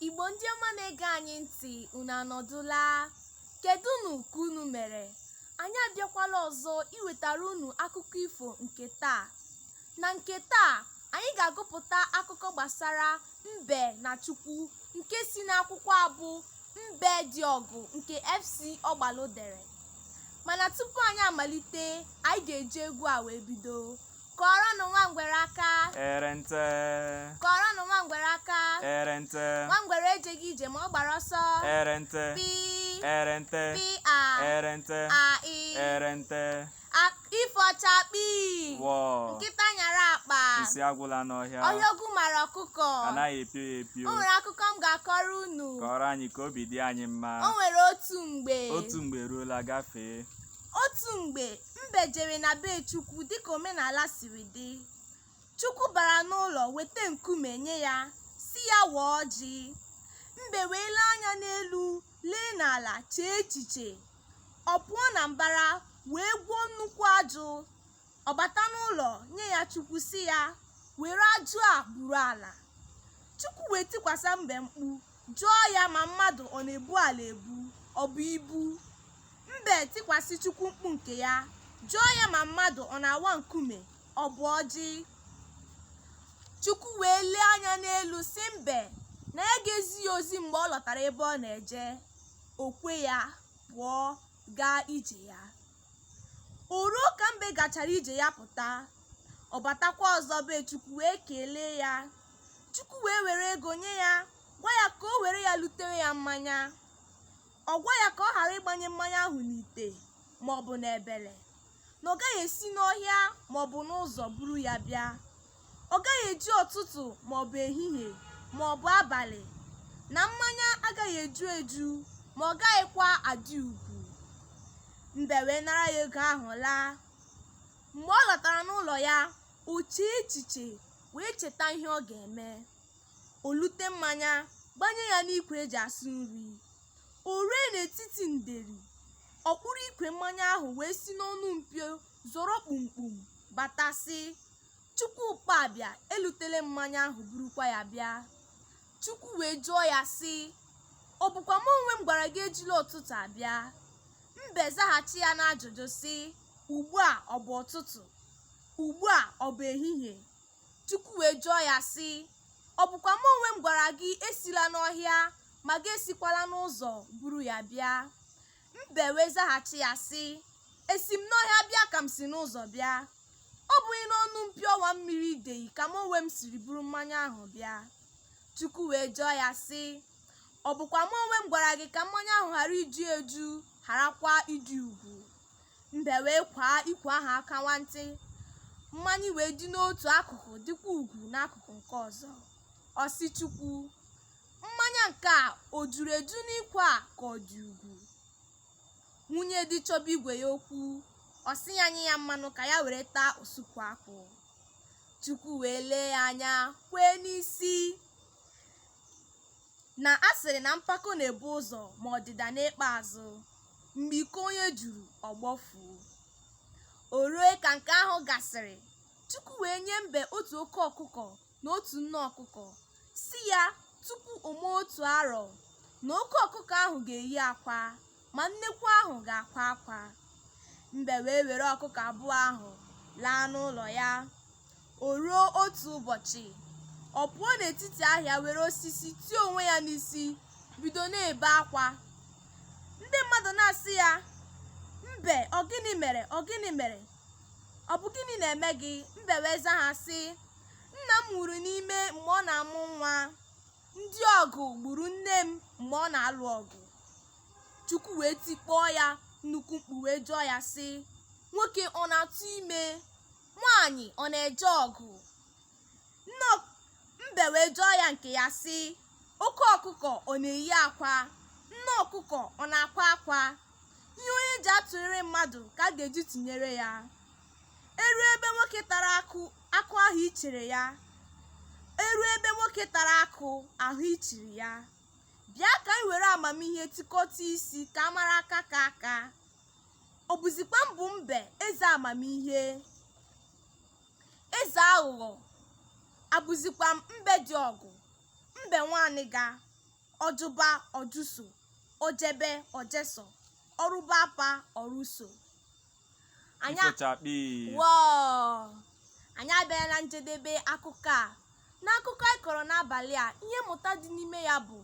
Igbo ndị ọma na-ege anyị ntị unu anọdụla kedụnụ ka unu mere anyị abịakwala ọzọ iwetara unu akụkọ ifo nke taa na nke taa anyị ga-agụpụta akụkọ gbasara mbe na chukwu nke si n'akwụkwọ abụ mbe dị ọgụ nke fc ọgbalụ dere mana tupu anyị amalite anyị ga-eji egwu a wee bido kụọrọnụ nwa ngwere aka erente kụọrọnụ nwa ngwere aka erente nwa ngwere ejeghị ije ma ọ gbara ọsọ erente pi erente pi a erente a i erente ifo chakpi wọ nkịta nyara akpa nsị agwụla n'ọhịa ọhịa ogwu mara ọkụkọ anaghị epio ya epio o nwere akụkọ m ga-akọrọ unu kọrọ anyị ka obi dị anyị mma o nwere otu mgbe otu mgbe eruola gafee otu mgbe Mbe jere na be Chukwu dịka omenala siri dị. Chukwu bara n'ụlọ weta nkume nye ya, sị ya waa ọjị. Mbe wee lee anya n'elu, lee n'ala, chee echiche. Ọ pụọ na mbara wee gwuo nnukwu ajụ. Ọ bata n'ụlọ nye ya Chukwu sị ya, were ajụ a buru ala. Chukwu wee tikwasa mbe mkpu, Jụọ ya ma mmadụ ọ na-ebu ala ebu, ọ bụ ibu. Mbe tikwasị Chukwu mkpu nke ya. Jụọ ya ma mmadụ ọ na-awa nkume, ọ bụ ọjị. Chukwu wee lee anya n'elu sị mbe na ya ga-ezi ya ozi mgbe ọ lọtara ebe ọ na-eje. O kwe ya, pụọ gaa ije ya. o ruo ka mbe gachara ije ya pụta ọ batakwa ọzọ be chukwu wee kelee ya chukwu wee were ego nye ya gwa ya ka o were ya lutere ya mmanya ọ gwa ya ka ọ ghara ịgbanye mmanya ahụ n'ite maọbụ n'ebele na ọ gaghị esi n'ọhịa maọbụ n'ụzọ buru ya bịa ọ gaghị eji ụtụtụ maọbụ ehihie maọbụ abalị na mmanya agaghị eju eju ma ọ gaghịkwa adị ugwu mbe wee nara ya ego ahụ laa mgbe ọ lọtara n'ụlọ ya o chee echiche wee cheta ihe ọ ga-eme o lute mmanya gbanye ya n'ikwe e ji asụ nri o rue n'etiti nderi ọ kpụrụ ikwe mmanya ahụ wee si n'ọnụ mpio zọrọ kpumkpum bata sị Chukwu gba bịa elutele m mmanya ahụ burukwa ya bịa. Chukwu wee jụọ ya sị, ọ bụkwa m onwe m gwara gị ejila ụtụtụ abịa? Mbe zaghachi ya n'ajụjụ sị, ugbu a ọ bụ ụtụtụ? Ugbu a ọ bụ ehihie? Chukwu wee jụọ ya sị, ọ bụkwa m onwe m gwara gị esila n'ọhịa ma gị esikwala n'ụzọ buru ya bịa? mbe wee zaghachi ya sị esi m n'ọhịa bịa ka m si n'ụzọ bịa ọ bụghị n'ọnụ mpio ọwa mmiri ideyi ka m onwe m siri buru mmanya ahụ bịa chukwu wee jụọ ya sị ọ bụkwa m onwe m gwara gị ka mmanya ahụ ghara iju eju gharakwa ịdị ugwu mbe wee kwaa ikwe ahụ aka nwantị mmanya wee dị n'otu akụkụ dịkwa ugwu n'akụkụ nke ọzọ ọ sị chukwu Mmanya nke a o juru eju n'ikwe a ka ọ dị ugwu? Nwunye di chọba ibe ya okwu, ọ sị ya nye ya mmanụ ka ya were taa osuku akwụ. Chukwu wee lee ya anya kwee n'isi na a sịrị na mpako na-ebu ụzọ ma ọdịda na-ekpe azụ. Mgbe iko onye juru, ọ gbọfuo. O rue ka nke ahụ gasịrị, Chukwu wee nye mbe otu oke ọkụkọ na otu nne ọkụkọ sị ya tupu o mee otu arọ na oke ọkụkọ ahụ ga-eyi akwa ma nnekwu ahụ ga-akwa akwa mbe wee were ọkụkọ abụọ ahụ laa n'ụlọ ya o ruo otu ụbọchị ọ pụọ n'etiti ahịa were osisi tie onwe ya n'isi bido na-ebe akwa ndị mmadụ na-asị ya mbe ọ gịnị mere ọ gịnị mere ọ bụ gịnị na-eme gị mbe wee zaa ha sị Nna m nwụrụ n'ime mgbe ọ na-amụ nwa. Ndị ọgụ gburu nne m mgbe ọ na-alụ ọgụ. Chukwu wee tikpọọ ya nnukwu mkpu wee jụọ ya sị, nwoke ọ na-atụ ime? Nwaanyị ọ na-eje ọgụ? Nne ọk- mbe wee jụọ ya nke ya sị, oke ọkụkọ ọ na-eyi akwa? Nne ọkụkọ ọ na-akwa akwa? Ihe onye ji atụrịrị mmadụ ka a ga-eji tụnyere ya. E rue ebe nwoke tara akụ akụ a hụ ichere ya e rue ebe nwoke tara akụ a hụ ichiri ya bịa ka anyị were amamihe tikọta isi ka a mara aka ka aka ọ bụzikwa m bụ mbe eze amamihe eze aghụghọ abụzikwa m mbe dị ọgụ mbe nwaaniga ọjụba ọjụso ojebe ojeso ọrụba apa ọrụso anyị a- Ifo chakpi. Wọọ! anyị abịala na njedebe akụkọ a n'akụkọ anyị kọrọ n'abalị a ihe mmụta dị n'ime ya bụ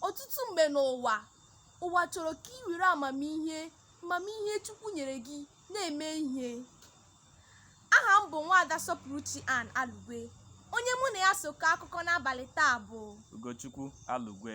ọtụtụ mgbe n'ụwa ụwa chọrọ ka i were amamihe amamihe chukwu nyere gị na-eme ihe aha m bụ nwaada Sọpụrụchi Ann Alugwe onye mụ na ya so kọọ akụkọ n'abalị taa bụ Ugochukwu Alugwe.